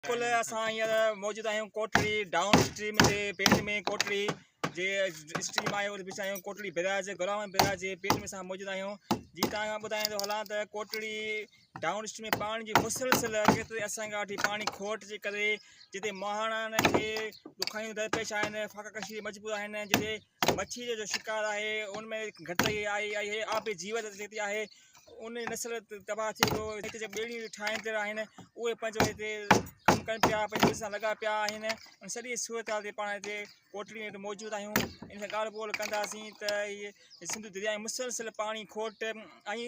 بلڪل اسان هينئر موجود آهيون ڪوٽڙي ڊائون اسٽريم جي پيٽ ۾ ڪوٽڙي جي اسٽريم آهي اتي بيٺا آهيون ڪوٽڙي بيراج گوراوان بيراج جي پيٽ ۾ اسان موجود آهيون جي تان کان ٻڌائين ٿو هلان ته ڪوٽڙي ڊائون اسٽريم ۾ پاڻي جي مسلسل ڪيتري اسان کان وٺي پاڻي کوٽ جي ڪري جتي مهاڻا کي ڏکايون درپيش آهن فاقا ڪشي مجبور آهن جتي مڇي جو شڪار آهي ان ۾ گهٽتائي آئي آئي آهي آبي جيوت جتي آهي ان جي نسل تباهه ٿي ويو هتي جيڪي ٻيڙيون ٺاهيندڙ آهن اهي پنهنجو هتي ڪم ڪن پيا پنهنجي ٻيڙين سان لڳا پيا آهن ان سڄي صورت حال تي پاڻ هتي ڪوٽڙي ۾ موجود آهيون ان سان ڳالهه ٻولهه ڪنداسين ته هي سنڌو درياء جي مسلسل پاڻي کوٽ ۽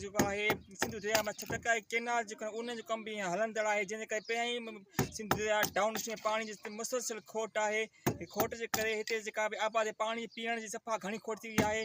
جيڪو آهي سنڌو درياء مٿ ٽڪائي ڪينال جيڪو آهي ان جو ڪم بि هيئن هلندڙ آهي جنهن جي ڪري پيائين سنڌو درياء ڊائون اسٽريم پاڻي جي مسلسل کوٽ آهي کٽ جي ڪري هتي جيڪا به آبادي پاڻي پيئڻ جي صفا گهڻي کوٽ ٿي وئي آهي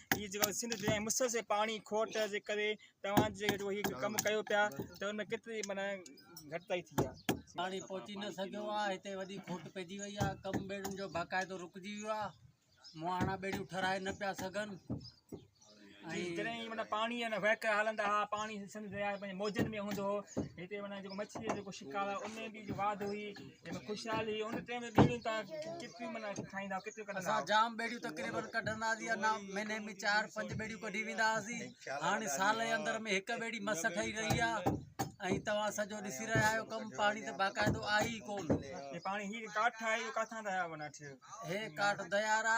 هي جيڪو سنڌ جي مسلسل پاڻي کوٽ جي ڪري توهان جي جيڪو هي ڪم ڪيو پيا ته ان ۾ ڪيتري معنيٰ گهٽتائي ٿي آهي پاڻي پهچي نه سگهيو آهي هتي وڏي کوٽ پئجي وئي آهي ڪم ٻيڙين جو باقاعدو رڪجي ويو آهي مهاڻا ٻيڙيون ٺهرائي نه پيا سگهن ۽ جڏهن هي معنيٰ پاڻي هن وهڪر هلندا هئا پاڻي سنڌ درياء جي پنهنجي موجن ۾ هوندو هو هتي معنيٰ جيڪو مڇي جو جيڪو شڪار آهي ان ۾ بي جو واڌ هئي خوشحالي ان ٽيم ۾ ٻيڙيون تان ڪتي منا کائيندا آهو ڪتي ڪڍندا آهو جام ٻيڙيون تقريبا ڪڍندا سي انا مهيني ۾ چار پنج ٻيڙيون ڪڍي ويندا سي هاڻي سال جي اندر ۾ هڪ ٻيڙي مس ٺهي رهي آ ۽ توهان سڄو ڏسي رهيا آهيو ڪم پاڻي ته باقاعدو آهي ئي ڪون هي پاڻي هي ڪاٺ آهي اهو ڪٿان ٿا آيا منا ٺهيو هي ڪاٺ ديارا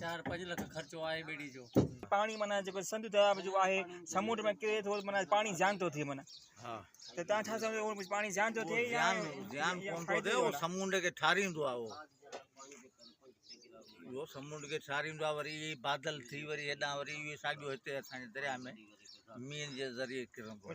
چار پنج لک خرچو آهي ٻيڙي جو پاڻي معنی جيڪو سنڌ درياء جو آهي سمنڊ ۾ ڪري ٿو معنی پاڻي زيان ٿو ٿئي معنی ها ته تان ڇا سمجھو هو پاڻي زيان ٿو ٿئي زيان زيان ڪون ٿو ٿئي هو سمنڊ کي ٺاريندو آهي هو اهو سمنڊ کي ٺاريندو آهي وري بادل ٿي وري هيڏان وري اهو ساڳيو هتي اسان جي درياء ۾ مينهن جي ذريعي ڪرندو